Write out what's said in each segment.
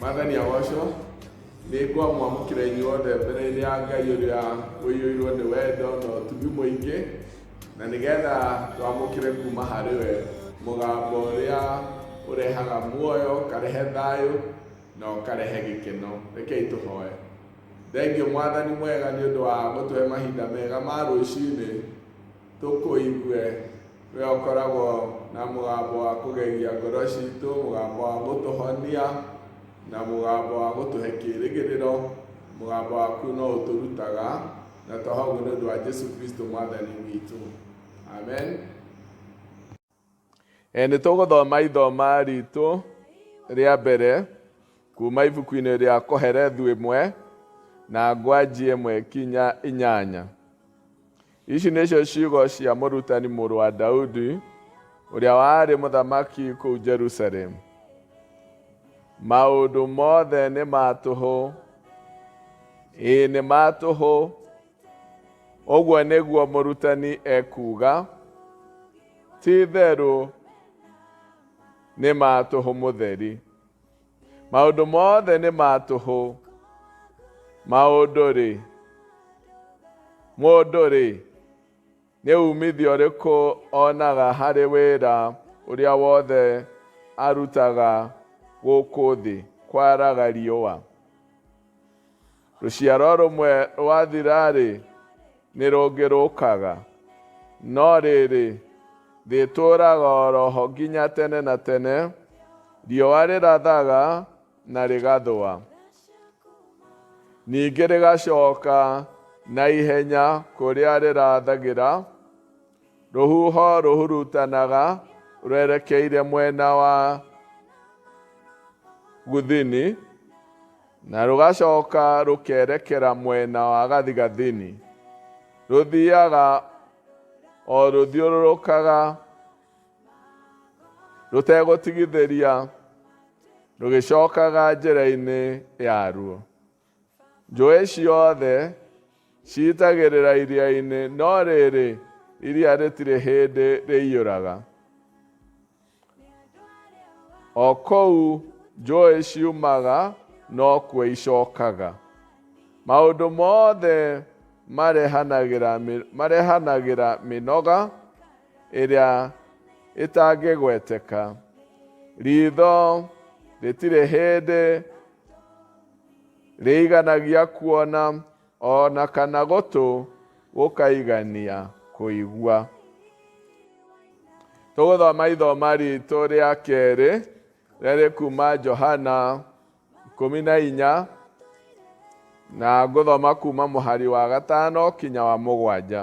mwathani agocwo nĩ ngwamwamũkĩra inyuothe mbere-inĩ ya ngai ũrĩa ũiyũirwo nĩ wendo na ũtugi mũingĩ na nĩgetha twamũkĩre kuma harĩ we mũgambo ũrĩa ũrehaga muoyo ũkarehe thayũ na ũkarehe gĩkeno rekei tũhoe Thengiũ mwathani mwega nĩ ũndũ wa gũtũhe mahinda mega ma rũcinĩ tũkũigue we ũkoragwo na mũgambo wa kũgegia ngoro citũ mũgambo wa gũtũhonia na mũgambo wa gũtũhe kĩrĩgĩrĩro mũgambo waku no ũtũrutaga na twahoguo nĩ ũndũ wa Jesu Kristo mwathani witũ amen Nĩ tũgũthoma ithoma ritũ rĩa mbere kuma ibuku-inĩ rĩa Koherethu ĩmwe na ngwanji ĩmwe kinya inyanya. Ici nĩcio ciugo cia mũrutani mũrũ wa Daudi ũrĩa warĩ mũthamaki kũu Jerusalemu. Maũndũ mothe nĩ ma tũhũ, ĩĩ nĩ ma tũhũ, Ũguo nĩguo mũrutani ekuuga, ti-itherũ nĩ ma tũhũ mũtheri. Maũndũ mothe nĩ ma tũhũ. Maũndũ-rĩ, mũndũ-rĩ, nĩ umithio ũrĩkũ onaga harĩ wĩra ũrĩa wothe arutaga gũkũ thĩ kwaraga riũa? Rũciaro rũmwe rwathira-rĩ, nĩ rũngĩ rũkaga, no rĩrĩ, rĩtũũraga o ro ho nginya tene na tene, riũa rĩrathaga na rĩgathũa, ningĩ rĩgacoka na ihenya kũrĩa rĩrathagĩra, rũhuho rũhurutanaga rwerekeire mwena wa gũthini, Na rũgacoka rũkerekera mwena wa gathigathini. Rũthiaga o rũthiũrũrũkaga rũtegũtigithĩria rũgĩcokaga njĩra-inĩ yaruo. Njũĩ ciothe ciitagĩrĩra iria-inĩ, no rĩrĩ, iria rĩtirĩ hĩndĩ rĩiyũraga. O kũu njũĩ ciumaga nokuo icokaga. Maũndũ mothe marehanagĩra, mĩ- marehanagĩra mĩnoga ĩrĩa ĩtangĩgweteka. Ritho rĩtirĩ hĩndĩ rĩiganagia kuona O na kana gũtũ gũkaigania kũigua. Tũgũthoma ithoma ritũ rĩa kerĩ rĩrĩ kuma Johana ikũmi na inya na ngũthoma kuma mũhari wa gatano kinya wa mũgwanja.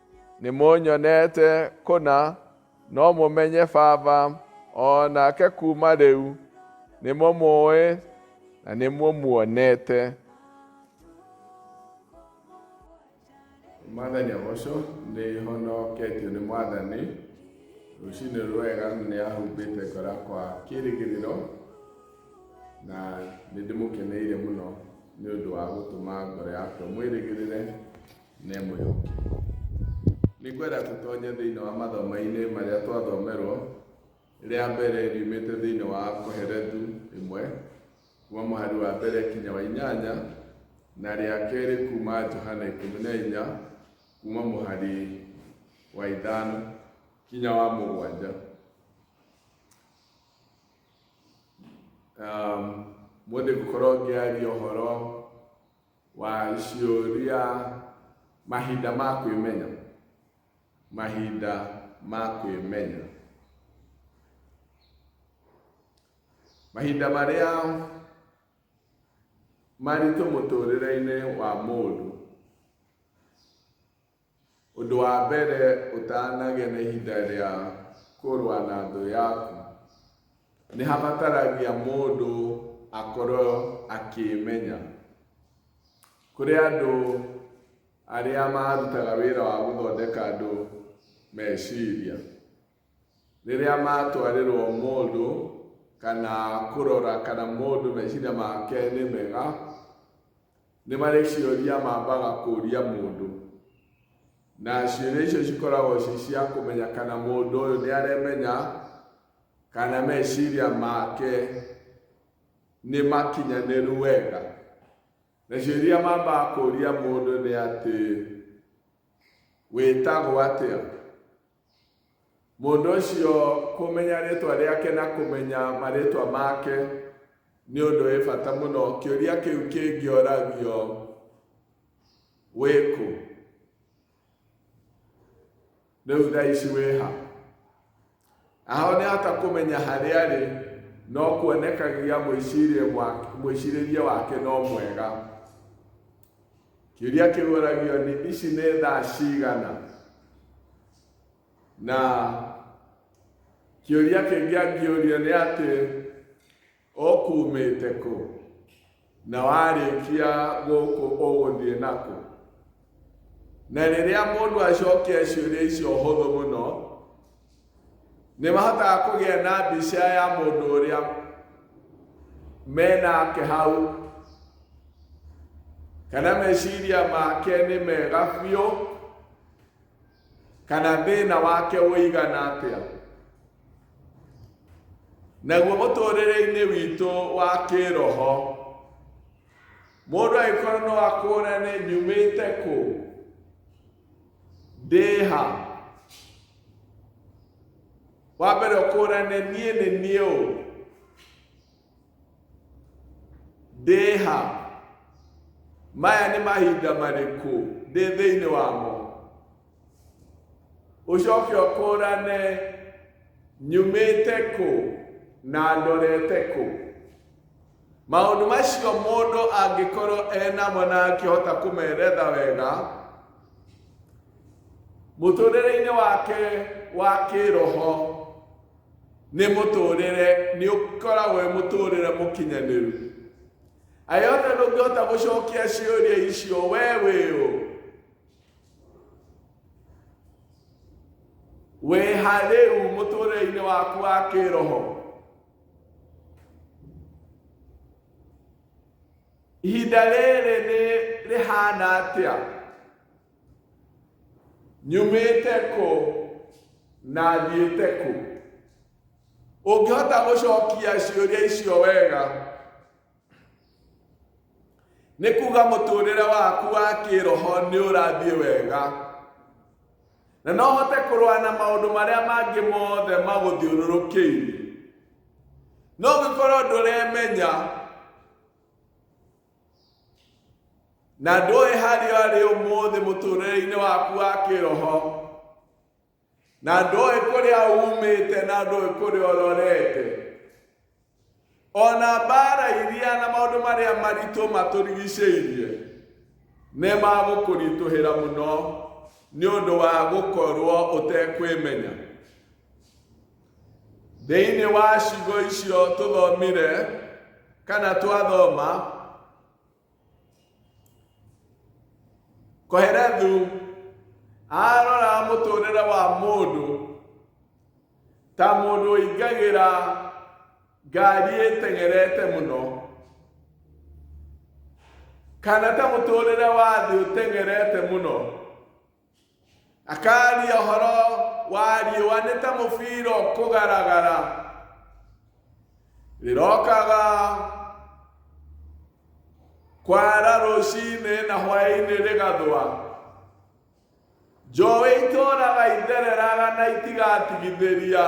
nĩ mũnyonete kũna no mũmenye baba o nake kuma rĩu nĩ mũmũĩ na nĩ mũmuonete mwathani agocwo nĩ honoketio nĩ mwathani rũcinĩ rwega nĩ ahumbĩte ngora kwa kĩrĩgĩrĩro na nĩ ndĩmũkeneire mũno nĩ ũndũ wa gũtũma ngoro yakwa mwĩrĩgĩrĩre na ĩmwe yũkĩrĩre. Nĩngwenda tũtonye thĩinĩ wa mathomo-inĩ marĩa twathomerwo rĩa mbere riumĩte thĩinĩ wa Koherethu ĩmwe kuma mũhari wa mbere kinya wa inyanya na rĩa kerĩ kuma Johana ikũmi na inya kuma mũhari wa ithano kinya wa mũgwanja. Um, Mũthĩ ngũkorwo ngĩaria ũhoro wa ciũria mahinda ma kwĩmenya mahinda ma kwĩmenya mahinda marĩa maritũ mũtũrĩre-inĩ wa mũndũ Ũndũ wa mbere ũtanagĩa na ihinda rĩa kũrũa na thũ yaku, nĩ habataragia mũndũ akorwo akĩĩmenya. Kũrĩ andũ arĩa marutaga wĩra wa gũthondeka andũ meciria, rĩrĩa matwarĩrwo mũndũ kana kũrora kana mũndũ meciria make nĩ mega, nĩ marĩ ciũria mambaga kũria mũndũ, na ciũria icio cikoragwo ci cia kũmenya kana mũndũ ũyũ nĩ aremenya kana meciria make nĩ makinyanĩru wega. Na ciũria mambaga kũria mũndũ nĩ atĩ, wĩtagwo atĩa? Mũndũ ũcio kũmenya rĩtwa rĩake na kũmenya marĩtwa make nĩ ũndũ wĩ bata mũno. Kĩũria kĩu kĩngĩoragio wĩkũ? Rĩu thaa ici wĩha? Aho nĩhota kũmenya harĩa arĩ no kuonekagia mwĩcirĩrie wake no mwega. Kĩũria kĩgũragio nĩ ici nĩ thaa cigana, na kĩũria kĩngĩ angĩũrio nĩ atĩ ũkumĩte kũ na warĩkia gũkũ ũgũthiĩ nakũ. Na rĩrĩa mũndũ acokia ciũria icio hũthũ mũno, nĩ mahotaga kũgĩa na mbica ya mũndũ ũrĩa menake hau kana meciria make nĩ mega biũ kana thĩna wake ũigana atĩa naguo mũtũrĩre-inĩ witũ wa kĩroho mũndũ agĩkorwo no akũrane nyumĩte kũ ndĩ ha wa mbere ũkũrane niĩ nĩ niĩ ũ ndĩ ha maya nĩ mahinda marĩkũ ndĩ thĩinĩ wamo ũcoke ũkũrane nyumĩte kũ na ndorete kũ Maũndũ macio mũndũ angĩkorwo enamo na akĩhota kũmeretha wega mũtũrĩre-inĩ wake wa kĩroho nĩ mũtũrĩre nĩ ũkoragwo wĩ mũtũrĩre mũkinyanĩru ayothe ndũngĩhota gũcokia ciũria icio we wĩũ wĩha rĩu mũtũrĩre-inĩ waku wa kĩroho ihinda rĩrĩ nĩ rĩhana atĩa nyumĩte kũ na thiĩte kũ ũngĩhota gũcokia ciũria icio wega nĩ kuga mũtũrĩre waku wa kĩroho nĩ ũrathiĩ wega na no hote kũrũa na maũndũ marĩa mangĩ mothe magũthiũrũrũkĩire no gĩkorwo ndũremenya na ndũĩ harĩa ũrĩ ũmũthĩ mũtũrĩre-inĩ waku wa kĩroho na ndoĩ kũrĩa umĩte na ndoĩ kũrĩa ũrorete ona mbara iria na maũndũ marĩa maritũ matũrigicĩirie nĩ magũkũritũhĩra mũno nĩ ũndũ wa gũkorwo ũtekwĩmenya thĩinĩ wa cigo icio tũthomire kana twathoma koherethu arora mũtũrĩre wa mũndũ ta mũndũ ũingagĩra ngari ĩteng'erete mũno kana ta mũtũrĩre wa thĩ ũteng'erete mũno akaria ũhoro wa riũa nĩ ta mũbira ũkũgaragara rĩrokaga kwara rũcinĩ na hwaĩ-inĩ rĩgathwa njũĩ itũraga ithereraga na itigatigithĩria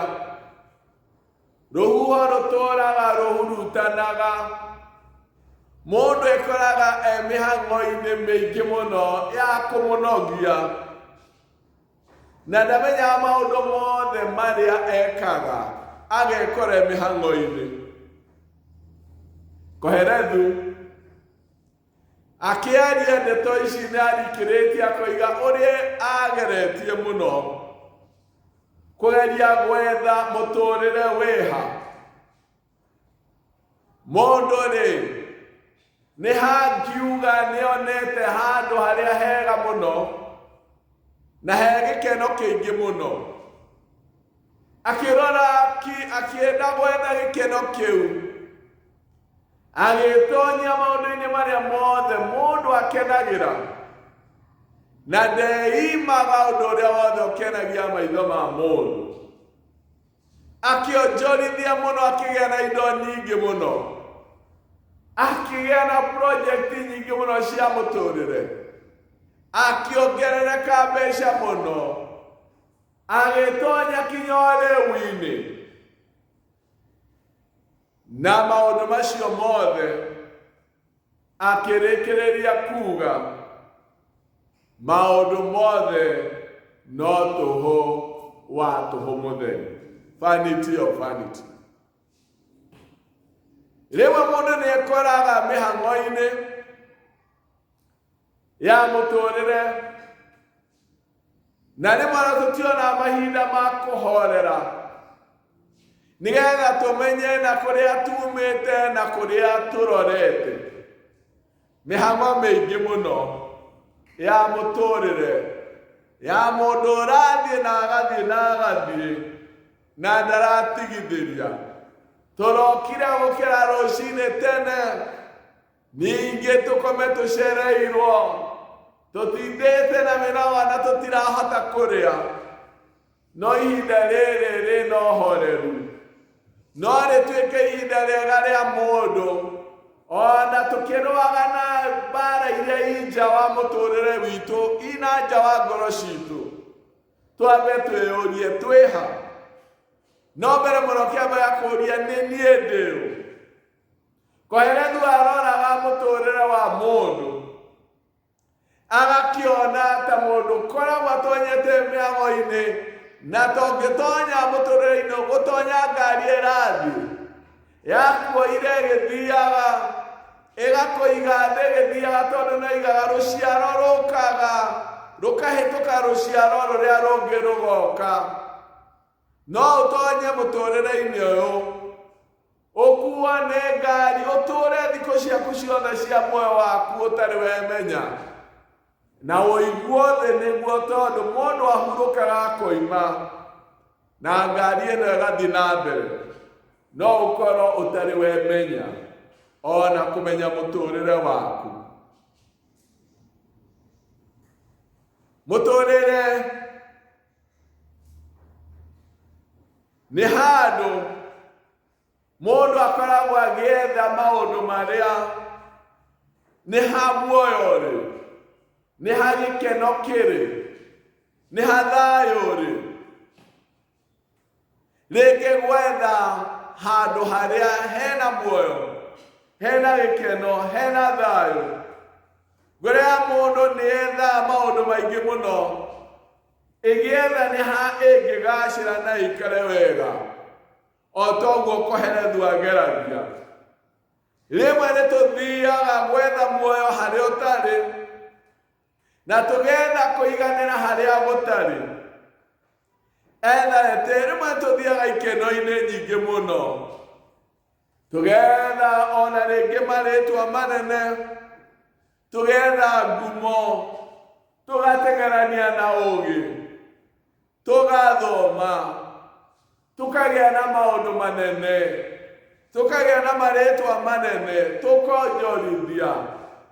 rũhuho rũtũraga rũhurutanaga mũndũ ekoraga e mĩhang'o-inĩ mĩingĩ mũno ya kũmũnogia na ndamenyaga maũndũ mothe marĩa ekaga agekora e mĩhang'o-inĩ koherethu akĩaria ndeto ici nĩ arikĩrĩtie akoiga ũrĩa ageretie mũno kũgeria gwetha mũtũrĩre wĩha mũndũ rĩ nĩ hangiuga nĩ onete handũ harĩa hega mũno na he gĩkeno kĩingĩ mũno akĩrora ki- akĩenda gwetha gĩkeno kĩu agĩtonya maũndũ-inĩ marĩa mothe mũndũ akenagĩra na ndeimaga ũndũ ũrĩa wothe ũkenagia maitho ma mũndũ akĩonjorithia mũno akĩgĩa na indo nyingĩ mũno akĩgĩa na projekti nyingĩ mũno cia mũtũrĩre akĩongerereka mbeca mũno agĩtonya kinya ũrĩu-inĩ na maũndũ macio mothe akĩrĩkĩrĩria kuga maũndũ mothe no tũhũ wa tũhũ mũtheri vanity of vanity rĩmwe mũndũ nĩ ekoraga mĩhang'o-inĩ ya mũtũrĩre na rĩmwe na tũtiona mahinda ma kũhorera nĩgetha tũmenye na kũrĩa tumĩte na kũrĩa tũrorete mĩhang'o mĩingĩ mũno ya mũtũrĩre ya mũndũ ũrathiĩ na agathiĩ na agathiĩ na ndaratigithĩria tũrokire gũkĩra rũcinĩ tene ningĩ tũkome tũcereirwo tũtindĩte na mĩrawa na tũtirahota kũrĩa no ihinda rĩrĩ rĩna ũhoreru no rĩtuĩke ihinda rĩega rĩa mũndũ ona tũkĩrũaga na mbara iria i nja wa mũtũrĩre witũ ina nja wa ngoro citũ twambe twĩyũrie twĩha no mbere mũno kĩamba ya kũria nĩ niĩ ndĩũ Koheretu aroraga mũtũũrĩre wa mũndũ agakĩona ta mũndũ koragwo atonyete mĩago-inĩ na tongĩtonya mũtũũrĩre-inĩ gũtonya ngari ĩrathiĩ yakuoire ĩgĩthiaga ĩgakũiga thĩ ĩgĩthiaga tondũ no igaga rũciaro rũkaga rũkahĩtũka rũciaro rũrĩa rũngĩ rũgoka no ũtonye mũtũũrĩre-inĩ ũyũ ũkuane ngari ũtũũre thikũ ciaku ciothe cia muoyo waku ũtarĩ wemenya na ũigua thĩ nĩguo tondũ mũndũ ahurũkaga akoima na ngari ĩno ĩgathiĩ na mbere no ũkorwo ũtarĩ wemenya ona kũmenya mũtũũrĩre waku mũtũũrĩre nĩ handũ mũndũ akoragwo agĩetha maũndũ marĩa nĩ ha muoyo rĩ nĩ ha gĩkeno kĩrĩ nĩ ha thayũ rĩ rĩngĩ gwetha handũ harĩa hena muoyo hena gĩkeno hena thayũ ngoro ya mũndũ nĩ yethaga maũndũ maingĩ mũno ĩgĩetha nĩ ha ĩngĩgacĩra na ĩikare wega o toguo koherethu ageragia rĩmwe nĩ tũthiaga gwetha muoyo harĩ ũtarĩ na tũgetha kũiganĩra harĩa gũtarĩ etharete rĩmwe tũthiaga ikeno-inĩ nyingĩ mũno tũgetha ona rĩngĩ marĩtwa manene tũgetha ngumo tũgategerania na ũgĩ tũgathoma tũkagĩa na maũndũ manene tũkagĩa na marĩtwa manene tũkonjorithia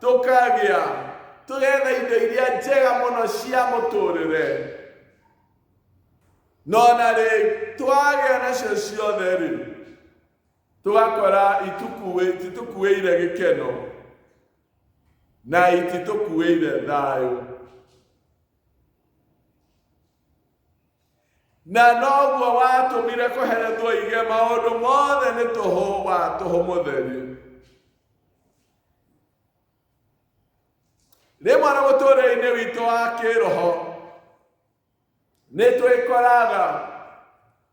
tũkagĩa tũgetha indo iria njega mũno cia mũtũrĩre no na rĩ twagĩa nacio ciothe rĩ tũgakora itũkuĩire gĩkeno na ititũkuĩire thayũ na noguo watũmire kũhere tũige maũndũ mothe nĩ tũhũ wa tũhũ mũtheri rĩmwe na mũtũrĩre-inĩ witũ wa kĩroho Nĩ twĩkoraga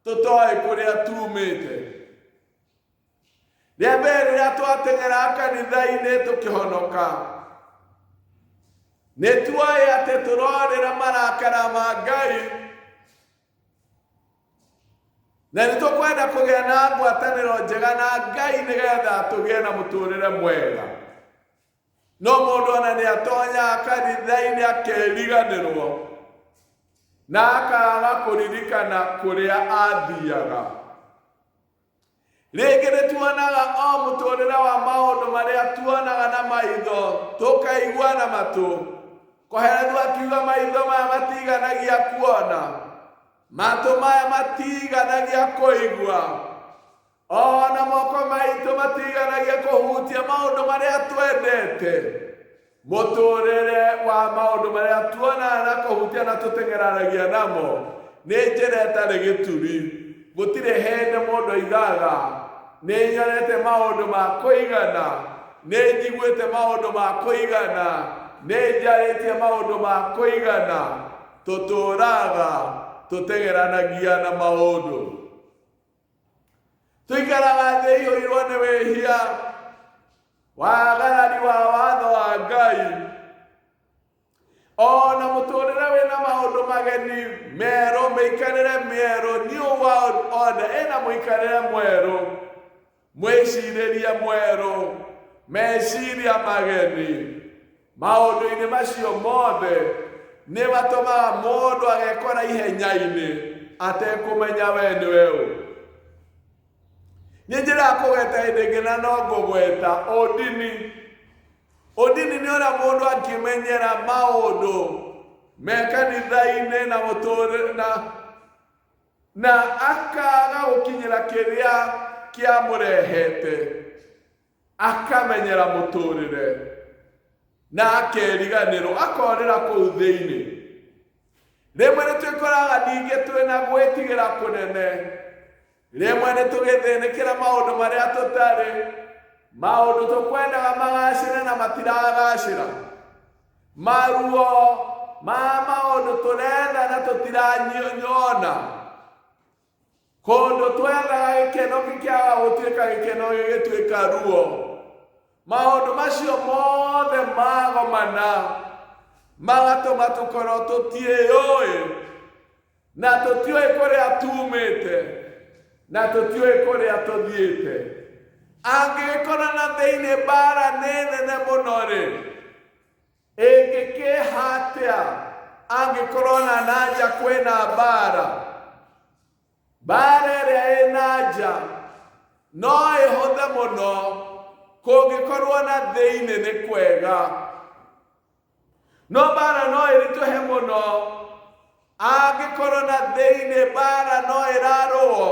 tũtoĩ kũrĩa tumĩte. Rĩa mbere rĩrĩa twateng'era kanitha-inĩ tũkĩhonoka, nĩ tuoĩ atĩ tũrorĩra marakara ma Ngai na nĩ tũkwenda kũgĩa na ngwatanĩro njega na Ngai nĩgetha tũgĩe na mũtũrĩre mwega. no mũndũ ona nĩ atonyaga kanitha-inĩ akeriganĩrwo na akaga kũririkana kũrĩa athiaga rĩngĩ nĩ tuonaga o mũtũrĩre wa maũndũ marĩa tuonaga na maitho tũkaigua na matũ koheretu akiuga maitho maya matiganagia kuona matũ maya matiganagia kũigua ona moko maitũ matiganagia kũhutia maũndũ marĩa twendete mũtũrĩre wa maũndũ marĩa tuonaga na kũhutia na tũteng'eranagia namo nĩ njĩra ĩtarĩ gĩturi gũtirĩ hĩndĩ mũndũ aigaga nĩ nyonete maũndũ ma kũigana nĩ njiguĩte maũndũ ma kũigana nĩ njarĩtie maũndũ ma kũigana tũtũraga tũteng'eranagia na maũndũ tũikara wathĩiũirwo nĩ wĩhia wagarari wa watho wa ngai o na mũtũrĩre wĩna maũndũ mageni merũ mĩikarĩre mĩerũ new world order ĩna mũikarĩre mwerũ mwĩcirĩrie mwerũ meciria mageni maũndũ-inĩ macio mothe nĩ matũmaga mũndũ agekora ihenya-inĩ atekũmenya we nĩ we ũ nĩ njĩra ya kũgweta hĩndĩ ĩngĩ na no ngũgweta ũndini ũndini nĩ ũrĩa mũndũ angĩmenyera maũndũ me kanitha-inĩ na mũtũrĩ na na akaga gũkinyĩra kĩrĩa kĩamũrehete akamenyera mũtũrĩre na akeriganĩrwo akorĩra kũu thĩinĩ rĩmwe nĩ twĩkoraga ningĩ twĩ na gwĩtigĩra kũnene rĩmwe nĩ tũgĩthĩnĩkĩra maũndũ marĩa tũtarĩ maũndũ tũkwendaga magacĩre na matiragacĩra maruo ma maũndũ tũretha na tũtiranyona Kũndũ twendaga gĩkeno gĩkĩaga gũtuĩka gĩkeno gĩgĩtuĩka ruo. Maũndũ macio mothe magomana magatũma tũkorwo tũtiĩyũĩ na tũtiũĩ kũrĩa tuumĩte na tũtiũĩ kũrĩa tũthiĩte. Angĩgĩkorana thĩinĩ mbara nĩ nene mũno-rĩ, Ĩngĩkĩha atĩa angĩkorwo na nanja kwĩna mbaara? Mbaara ĩrĩa ĩ nanja no ĩhũthe mũno kũngĩkorwo na thĩinĩ nĩ kwega. No mbaara no ĩritũhe mũno Angĩkorwo na thĩinĩ mbaara no ĩrarũo,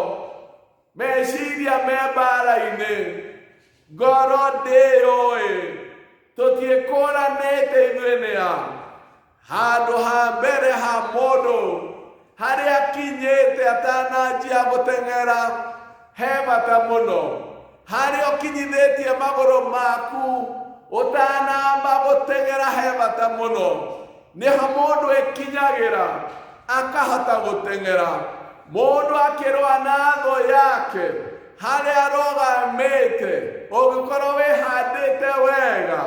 meciria me mbaara-inĩ, ngoro ndĩyũĩ, tũtiĩkũranĩte ithuĩ nĩ a. Handũ ha mbere ha mũndũ harĩa akinyĩte atananjia gũteng'era he bata mũno harĩa ũkinyithĩtie magũrũ maku ũtanamba gũteng'era he bata mũno nĩho mũndũ ĩkinyagĩra akahota gũteng'era mũndũ akĩrũa na thũ yake harĩa arũgamĩte ũngĩkorwo wĩhandĩte wega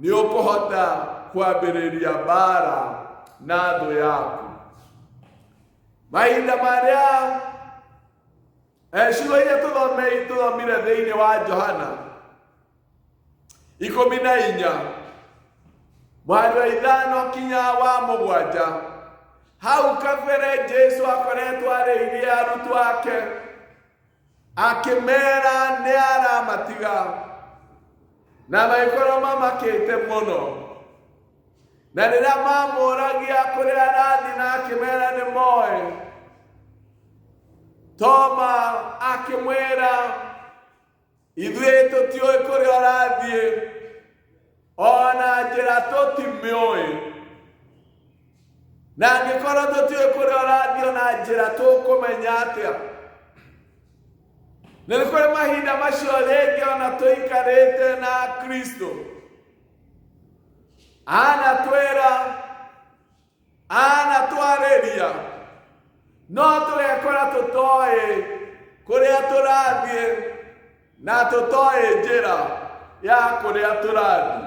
nĩ ũkũhota kwambĩrĩria mbara na thũ yaku mahinda marĩa Eh, ciugo iria tũthome- tũthomire thĩinĩ wa johana ikũmi na inya mwari wa ithano kinya wa mũgwanja hau kabere jesu akoretwo arĩithie arutwo ake akĩmera nĩ aramatiga na magĩkorwo mamakĩte mũno na rĩrĩa mamũragia kũrĩa arathi na akĩmera nĩ moĩ toma akĩmwĩra ithuĩ tũtiũĩ kũrĩa ũrathiĩ ona njĩra tũtimĩũĩ na angĩkorwo tũtiũĩ kũrĩa ũrathiĩ o na njĩra tũkũmenya atĩa na nĩ kũrĩ mahinda macio rĩngĩ ona tũikarĩte na kristo anatwĩra anatwarĩria no tũgekora tũtoĩ kũrĩa tũrathiĩ na tũtoĩ njĩra ya kũrĩa tũrathiĩ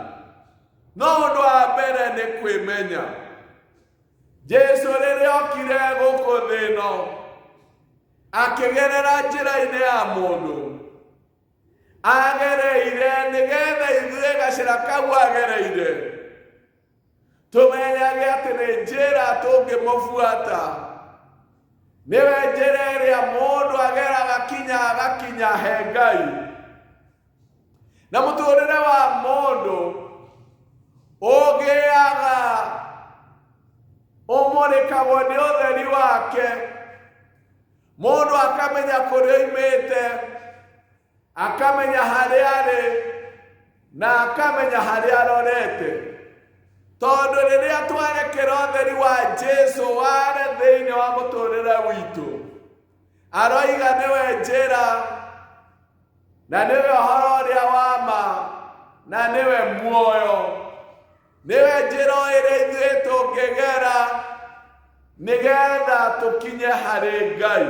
no ũndũ wa mbere nĩ kwĩmenya jesu rĩrĩa okire gũkũ thĩ ĩno akĩgerera njĩra-inĩ ya mũndũ agereire nĩgetha ithuĩ gacĩra kau agereire tũmenyage atĩ nĩ njĩra tũngĩmũbuata nĩwe njĩra ĩrĩa mũndũ ageraga kinya agakinya he ngai na mũtũrĩre wa mũndũ ũgĩaga ũmũrĩkagwo nĩ ũtheri wake mũndũ akamenya kũrĩa oimĩte akamenya harĩa arĩ na akamenya harĩa arorete tondũ rĩrĩa twarekera ũtheri wa jesu ware thĩinĩ wa mũtũrĩre witũ aroiga nĩwe njĩra na nĩwe ũhoro ũrĩa wa ma na nĩwe muoyo nĩwe njĩra ĩrĩa ithuĩ tũngĩgera nĩgetha tũkinye harĩ ngai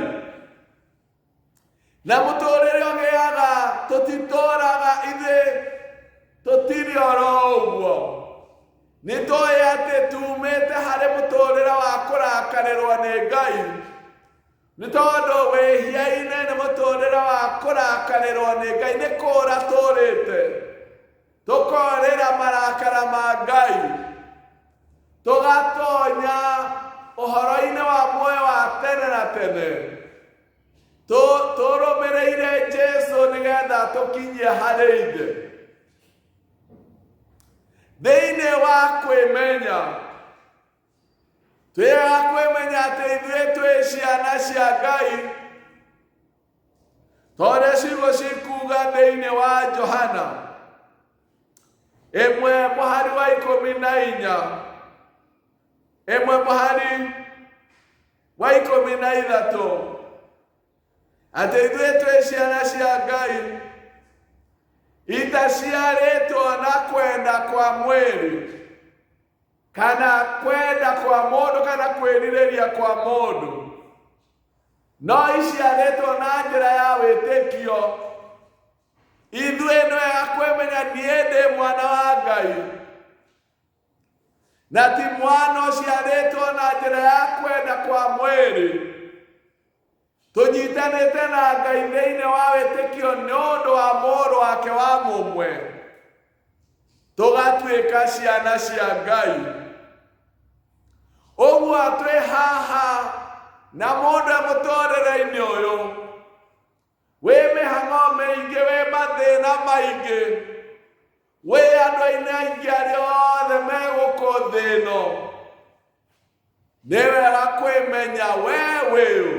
na mũtũrĩre ũgĩaga tũtitũraga ithuĩ tũtirĩ oro ũguo Nĩ tũĩ atĩ tuumĩte harĩ mũtũũrĩre wa kũrakarĩrwo nĩ Ngai. Nĩ tondũ wĩhia-inĩ nĩ mũtũũrĩre wa kũrakarĩrwo nĩ Ngai, nĩ kũũra tũũrĩte tũkorĩra marakara ma Ngai, tũgatonya ũhoro-inĩ wa muoyo wa tene na tene tũrũmĩrĩire Jesu nĩgetha tũkinyie harĩ ithe. thĩinĩ wa kwĩmenya twĩaga kwĩmenya atĩ ithuĩ twĩ ciana cia ngai tondũ ciugo cikuga thĩinĩ wa johana ĩmwe mũhari wa ikũmi na inya ĩmwe mũhari wa ikũmi na ithatũ Atĩ ithuĩ twĩ ciana cia Ngai itaciarĩtwo na kwenda kwa mwĩrĩ kana kwenda kwa mũndũ kana kwĩrirĩria kwa mũndũ no iciarĩtwo na njĩra ya wĩtĩkio ithuĩ nĩ wega kwĩmenya niĩ ndĩ mwana wa ngai na ti mwana ũciarĩtwo na njĩra ya kwenda kwa mwĩrĩ tũnyitanĩte na ngai thĩinĩ wa wĩtĩkio nĩ ũndũ wa mũrũ wake wa mũmwe tũgatuĩka ciana cia ngai ũguo twĩ haha na mũndũ e mũtũrĩre-inĩ ũyũ Wĩ mĩhang'o mĩingĩ, wĩ mathĩna maingĩ, wĩ andũ ainĩ aingĩ arĩa othe megũkũ thĩ ĩno. Nĩ wega kwĩmenya we wĩũ.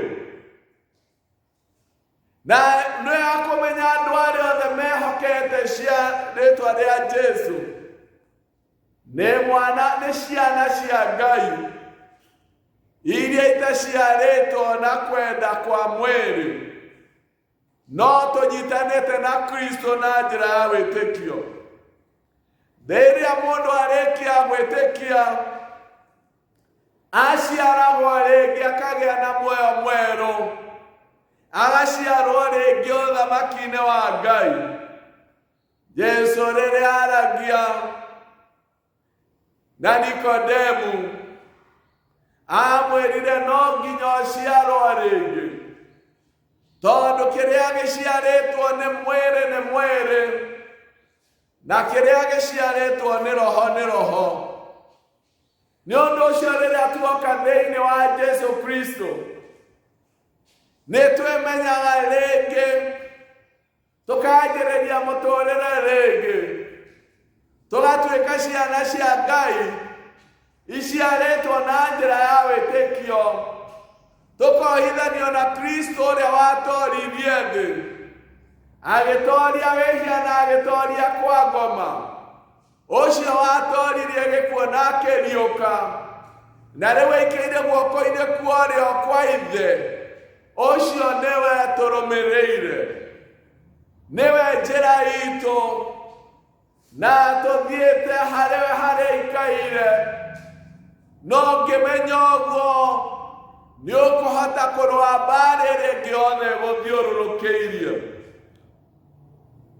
Na nĩ wega kũmenya andũ arĩa othe mehokete cia rĩtwa rĩa Jesu. nemwana neshiana shia Ngai iria itashiaretwo na kwenda kwa mwĩrĩ no tũnyitanĩte na kristo na njĩra ya wĩtĩkio rĩrĩa mũndũ arĩkia gwĩtĩkia aciaragwo rĩngĩ akagĩa na muoyo mwerũ agaciarwo rĩngĩ ũthamaki-inĩ wa ngai Jesu rĩrĩa aragia na Nikodemu amwĩrire no nginya ũciarwo rĩngĩ tondũ kĩrĩa gĩciarĩtwo nĩ mwĩrĩ nĩ mwĩrĩ na kĩrĩa gĩciarĩtwo nĩ roho nĩ roho nĩ ũndũ ũcio rĩrĩa tuoka thĩinĩ wa jesu kristo nĩ twĩmenyaga rĩngĩ tũkanjĩrĩria mũtũrĩre rĩngĩ tũgatuĩka ciana cia ngai iciarĩtwo na njĩra ya wĩtĩkio tũkohithanio na kristo ũrĩa watoririe thĩ agĩtoria wĩhia na agĩtoria kwa ngoma ũcio watooririre gĩkuo na akĩriũka na rĩu aikĩire guoko-inĩ kuorĩo kwa ithe ũcio nĩwe tũrũmĩrĩire nĩwe njĩra itũ na tũthiĩte harĩwe harĩa ikaire no ngĩmenya ũguo nĩ ũkũhota kũrũa mbaarĩ ĩrĩa ĩngĩ yothe gũthiũrũrũkĩirie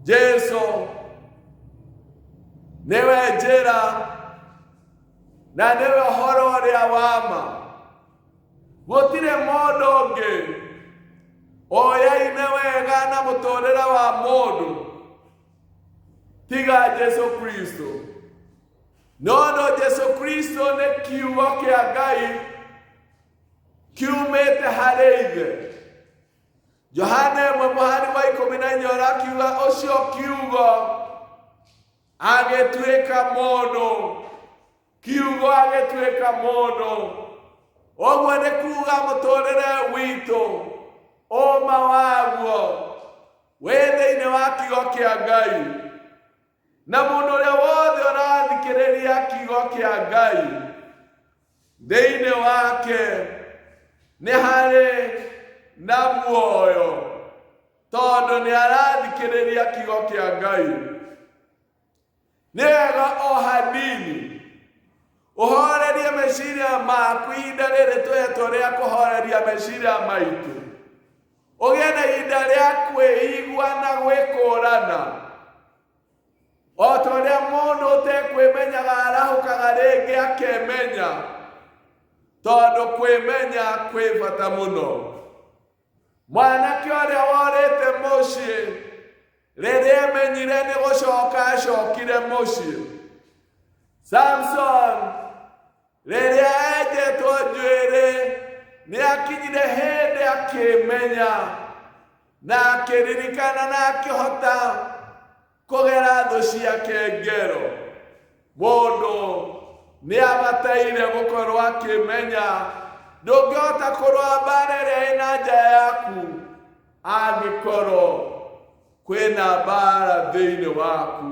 jesu nĩwe njĩra na nĩwe ũhoro ũrĩa wa ma gũtirĩ mũndũ ũngĩ ũyaine wega na mũtũũrĩre wa mũndũ tiga jesu kristo no ũndũ jesu kristo nĩ kiugo kĩa ngai kiumĩte harĩ ithe johane ĩmwe mũhari wa ikũmi na inya ũrakiuga ũcio kiugo agĩtuĩka mũndũ kiugo agĩtuĩka mũndũ ũguo nĩ kuuga mũtũrĩre witũ ũma waguo wĩ thĩinĩ wa kiugo kĩa ngai na mũndũ ũrĩa wothe ũrathikĩrĩria kiugo kĩa ngai thĩinĩ wake nĩ harĩ na muoyo tondũ nĩ arathikĩrĩria kiugo kĩa ngai nĩ wega o hanini ũhorerie meciria maku ihinda rĩrĩ twehetwo rĩa kũhoreria meciria maitũ ũgĩe na ihinda rĩa kwĩigua na gwĩkũrana o ta ũrĩa mũndũ ũtekwĩmenyaga arahũkaga rĩngĩ akemenya tondũ kwĩmenya kwĩ bata mũno mwanake ũrĩa worĩte mũciĩ rĩrĩa emenyire nĩ gũcoka acokire mũciĩ samson Rĩrĩa enjetwo njuĩrĩ, nĩ akinyire hĩndĩ akĩmenya na akĩririkana na akĩhota kũgera thũ ciake ngero. Mũndũ nĩ abataire gũkorwo akĩmenya ndũngĩhota kũrũa mbaara ĩrĩa ĩna nja yaku angĩkorwo kwĩna mbaara thĩinĩ waku.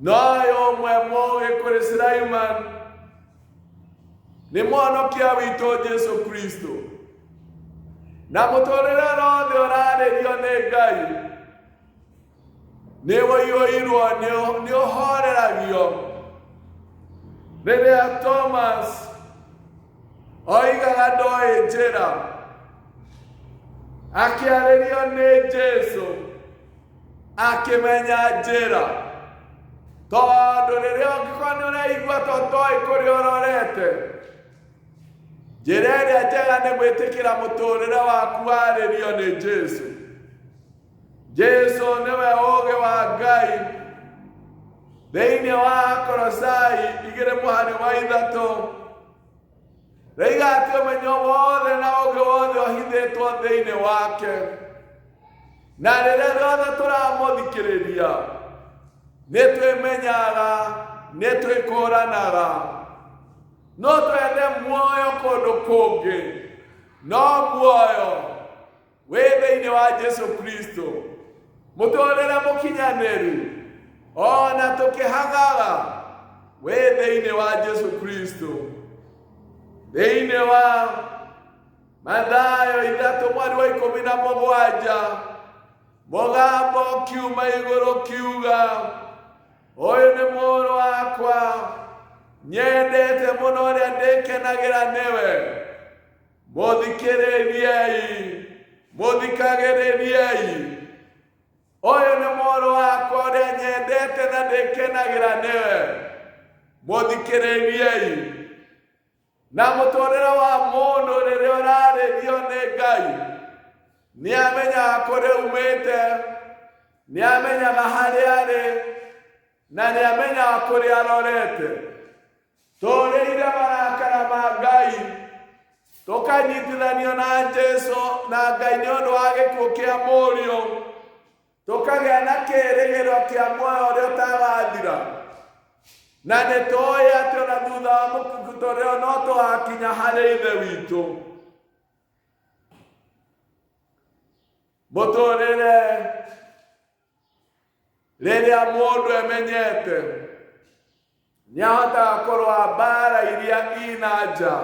noyo mwemo ekore Sulaiman ni mwonokia wito Jesu Kristo na muturire rothe uraririo ni Ngai ni woiyoirwo ni uhoreragio riria Thomas oigaga ndoĩ njĩra akĩarĩrio nĩ Jesu akĩmenya njĩra tondũ rĩrĩa ũngĩkorwo nĩ ũraigua to toĩ kũrĩa ũrorete njĩra ĩrĩa njega nĩ gwĩtĩkĩra mũtũũrĩre waku warĩrio nĩ jesu jesu nĩwe ũũgĩ wa ngai thĩinĩ wa korosai igĩrĩ mũhari wa ithatũ Raigatio ũmenyo wothe na ũngĩ wothe ũhithĩtwo thĩinĩ wake na rĩrĩa rĩothe tũramũthikĩrĩria nĩ twĩmenyaga nĩ twĩkũranaga no twende muoyo kũndũ kũngĩ no muoyo we thĩinĩ wa jesu kristo mũtũrĩre mũkinyanĩru ona tũkĩhagaga we thĩinĩ wa jesu kristo thĩinĩ wa mathayo ithatũ mweri wa ikũmi na mũgwanja mũgambo kiuma igũrũ kiuga ũyũ nĩ mũrũ wakwa nyendete mũno ũrĩa ndĩkenagĩra nĩwe mũthikĩrĩriei mũthikagĩrĩriei ũyũ nĩ mũrũ wakwa ũrĩa nyendete na ndĩkenagĩra nĩwe mũthikĩrĩriei na mũtũrĩre wa mũndũ rĩrĩa ũrarĩrio nĩ ngai nĩ amenyaga kũrĩa umĩte nĩ amenyaga harĩa arĩ na nĩ amenyaga kũrĩa arorete tolelila balakala ba Ngai tokanyitilanio na Jesu na Ngai nĩ ũndũ wa gĩkuũ kĩa mũriũ tũkagĩa na kĩĩrĩgĩro kĩa muoyo ũrĩa ũtagathira na nĩ tũĩ atĩ ona thutha wa mũkukutoreo no tũgakinya harĩ ithe witũ mũtũrĩre rĩrĩa mũndũ emenyete nĩ ahotaga kũrũa mbaara iria ina nja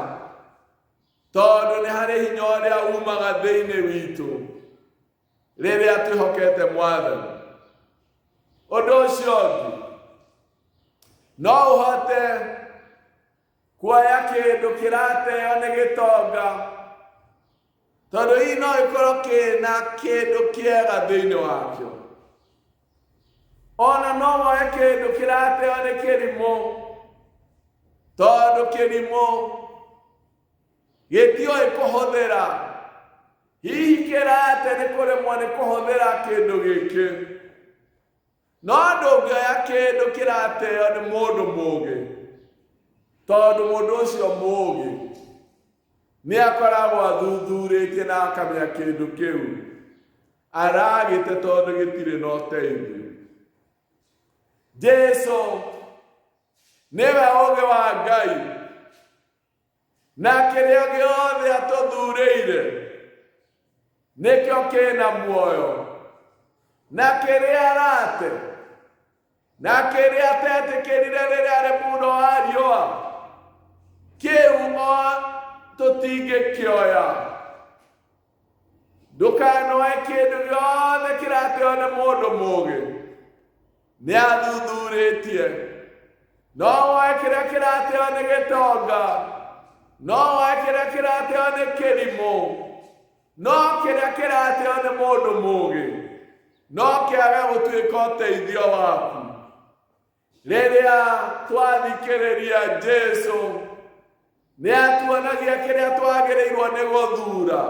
tondũ nĩ harĩ hinya ũrĩa umaga thĩinĩ witũ rĩrĩa twĩhokete mwathani ũndũ ũcio ũngĩ no ũhote kuoya kĩndũ kĩrateo nĩ gĩtonga tondũ hihi no gĩkorwo kĩna kĩndũ kĩega thĩinĩ wakĩo ona no woe kĩndũ kĩrateo nĩ kĩrimũ tondũ kĩrimũ gĩtiũĩ kũhũthĩra hihi kĩrate nĩ kũremwo nĩ kũhũthĩra kĩndũ gĩkĩ No ndũngĩoya kĩndũ kĩrateo nĩ mũndũ mũũgĩ, tondũ mũndũ ũcio mũũgĩ nĩ akoragwo athuthurĩtie na akamenya kĩndũ kĩu aragĩte tondũ gĩtirĩ na ũteithio. Jesu nĩwe ũũgĩ wa Ngai. na kĩrĩa gĩothe atũthurĩire nĩkĩo kĩna muoyo na kĩrĩa arate na kĩrĩa atetĩkĩrire rĩrĩa arĩ muno wa riũa kĩu o tũtingĩkĩoya ndũkanoe kĩndũ gĩothe kĩrateo nĩ mũndũ mũũgĩ nĩ athuthurĩtie no woe kĩrĩa kĩrateo nĩ gĩtonga no woe kĩrĩa kĩrateo nĩ kĩrimũ no kĩrĩa kĩrateo nĩ mũndũ mũũgĩ no kĩage gũtuĩka ũteithio waku rĩrĩa twathikĩrĩria jesu nĩ atuonagia kĩrĩa twagĩrĩirwo nĩ gũthura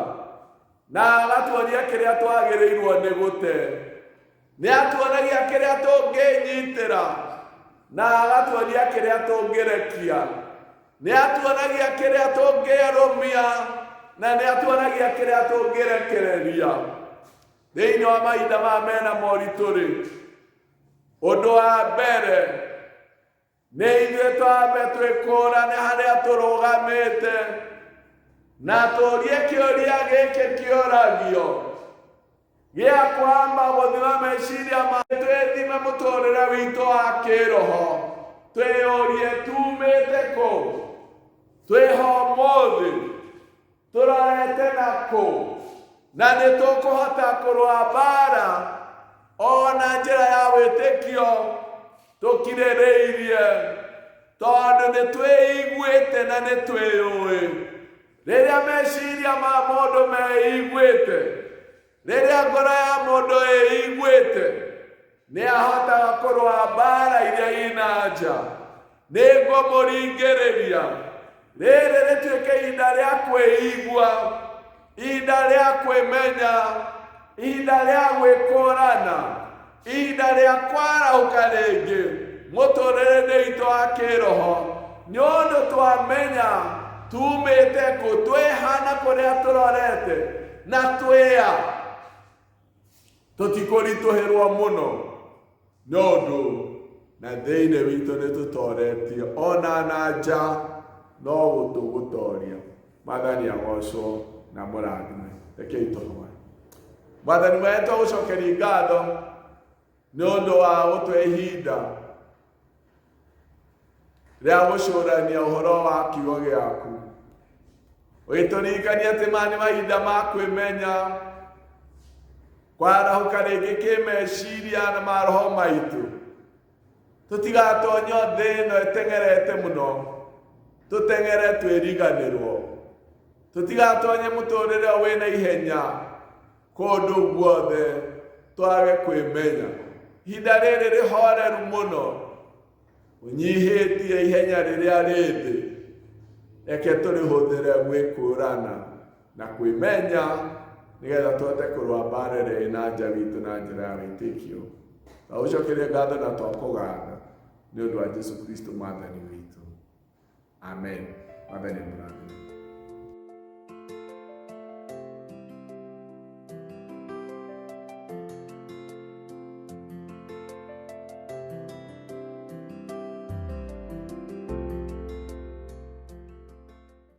na agatuonia kĩrĩa twagĩrĩirwo nĩ gũte nĩ atuonagia kĩrĩa tũngĩnyitĩra na agatuonia kĩrĩa tũngĩrekia nĩ atuonagia kĩrĩa tũngĩarũmia na nĩ atuonagia kĩrĩa tũngĩrekereria thĩinĩ wa mahinda ma mena moritũ-rĩ ũndũ wa mbere nĩ ithuĩ twambe twĩkũrane harĩa tũrũgamĩte na tũrie kĩũria gĩkĩ kĩũragio gĩa kwamba gũthima meciria ma twĩthime mũtũrĩre witũ wa kĩroho twĩyũrie tumĩte kũ twĩho mũthĩ tũrorete na kũ na nĩ tũkũhota kũrũa mbaara o na njĩra ya wĩtĩkio tũkirĩrĩirie tondũ nĩ twĩiguĩte na nĩ twĩyũĩ rĩrĩa meciria ma mũndũ meiguĩte Rĩrĩa ngoro ya mũndũ ĩiguĩte, nĩ ahotaga kũrũa mbaara iria ina nja. Nĩ ngũmũringĩrĩria. Rĩrĩ rĩtuĩke ihinda rĩa kwĩigua, ihinda rĩa kwĩmenya, ihinda rĩa gwĩkũrana. Ihinda rĩa kwarahũka rĩngĩ mũtũrĩre-inĩ itũ wa kĩroho nĩ ũndũ twamenya tumĩte kũ twĩhana kũrĩa tũrorete na twĩa tũtikũritũhĩrwo mũno nĩ ũndũ na thĩinĩ witũ nĩ tũtoretio ona na nja no gũtũgũtoria mwathani agocwo na mũrathime rekei tũhoe mwathani wetũ agũcokeria ngatho nĩ ũndũ wa gũtwe ihinda rĩa gũcũrania ũhoro wa kiugo gĩaku ũgĩtũririkania atĩ maya nĩ mahinda ma kwĩmenya kwarahũka rĩngĩ kĩmeciria na maroho maitũ tũtigatonyo thĩ ĩno ĩteng'erete mũno tũteng'ere twĩriganĩrwo tũtigatonye mũtũrĩre wĩ na ihenya kũndũ guothe twage kwĩmenya ihinda rĩrĩ rĩhoreru mũno ũnyihĩtie ihenya rĩrĩa rĩthĩ reke tũrĩhũthĩre gwĩkũrana na kwĩmenya nĩgetha tũhote kũrũa mbaara ĩrĩa ĩna nja witũ na njĩra ya wĩtĩkio na ũcokerie ngatho na twakũgatha nĩ ũndũ wa jesu kristo mwathani witũ amen mwathani mũrathime